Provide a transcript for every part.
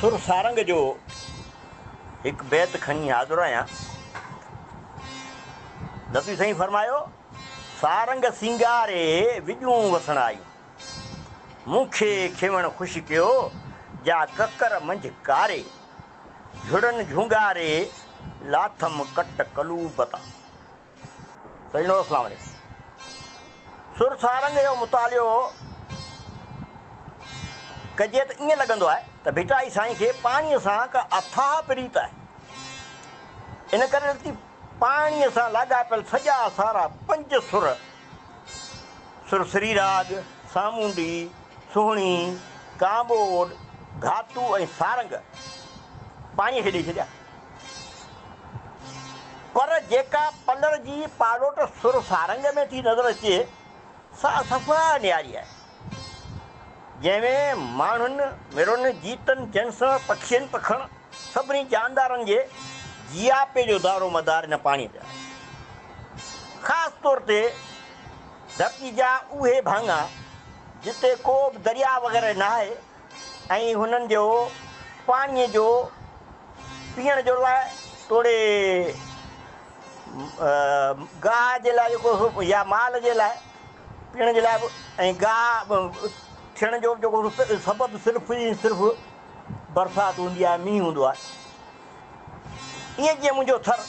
سر سارنگ جو هڪ بيت کڻي حاضر آهيان. ندوي سائين فرمايو، سارنگ سينگاري وڄون وسڻ آيون. مون کي کيوڻ خوش ڪيو، جا ڪڪر منجھ ڪاري. جھڙن جھونگاري، لاٿم ڪٽ قلوب تان. سيد نور اسلام علي سر سارنگ جو مطالعو ڪجي ته ائين لڳندو آهي ته ڀٽائي سائين کي پاڻيء سان ڪا اٿاهه پريت آهي. ان ڪري لکتي پاڻيء سان لاڳاپيل سڄا سارا پنج سر، سر سري راڳ، سامونڊي، سهڻي، ڪانٻوڏ، گهاتو ۽ سارنگ، پاڻيء کي ڏئي ڇڏيا. پر جيڪا پلر جي پاڙوٽ سر سارنگ ۾ ٿي نظر اچي، سا صفا نياري آهي، جنهن ۾ ماڻهن، مرن، جيتن، جنسن، پکين، پکڻ، سڀني جاندارن جي جياپي جو دارو مدار ان پاڻيء تي آهي. خاص طور تي ڌرتي جا اهي ڀاڱا، جتي ڪو به درياء وغيره ناهي، ۽ هنن جو پاڻيء جو پيئڻ جو لاء توڙي گاهه جي لاء جيڪو يا مال جي لاء پيئڻ جي لاء به ۽ گاهه ٿيڻ جو جيڪو سبب صرف ئي صرف برسات هوندي آهي، مينهن هوندو آهي. ايئن جيئن منهنجو ٿر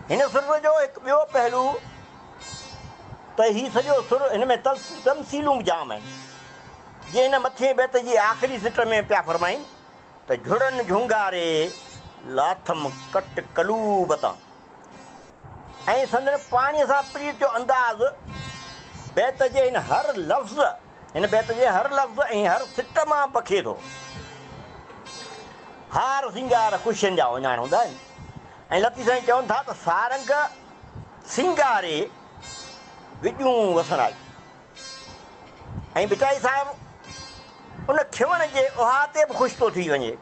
هن سر جو هڪ ٻيو پهلو ته هي سڄو سر هن ۾ تمثيلون به جام آهن. جيئن هن مٿئين بيت جي آخري سٽر ۾ پيا فرمائين ته جھڙن جھونگاري لاٿم ڪٽ قلوب تان ۽ سندن پاڻي سان پريت جو انداز بيت جي هن هر لفظ هن بيت جي هر لفظ ۽ هر سٽ مان پکي ٿو. هار سينگار خوشين جا اوڃاڻ هوندا آهن ۽ لطيف سائين چون ٿا ته سارنگ سينگاري وڄون وسڻائي ۽ ڀٽائي صاحب ان کيوڻ جي احاطي به خوش ٿو ٿي وڃي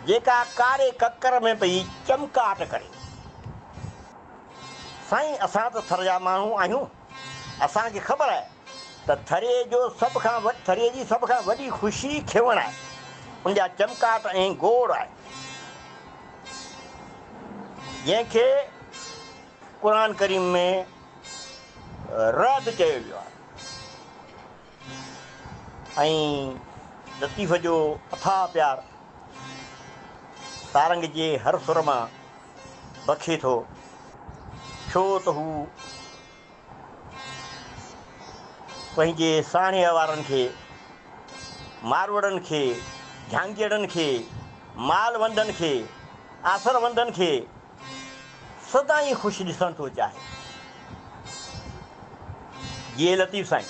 جيڪا ڪاري ڪڪر ۾ پئي چمڪاٽ ڪري. سائين اسان ته ٿر جا ماڻهو آهيون. اسان کي خبر آهي ته ٿري جو سڀ کان ٿري جي سڀ کان وڏي خوشي کيوڻ آهي، ان جا چمڪاٽ ۽ گوڙ آهي، جنهن کي قرآن ڪريم ۾ رعد چيو ويو آهي. ۽ لطيف جو اٿاهه پيار سارنگ جي هر سر مان بکي ٿو ڇو ته هو پنهنجي ساڻيهه وارن کي، ماروئڙن کي، جهانگيئڙن کي، مال وندن کي، آسر وندن کي، سدائين خوش ڏسڻ ٿو چاهي. جيئي لطيف سائين.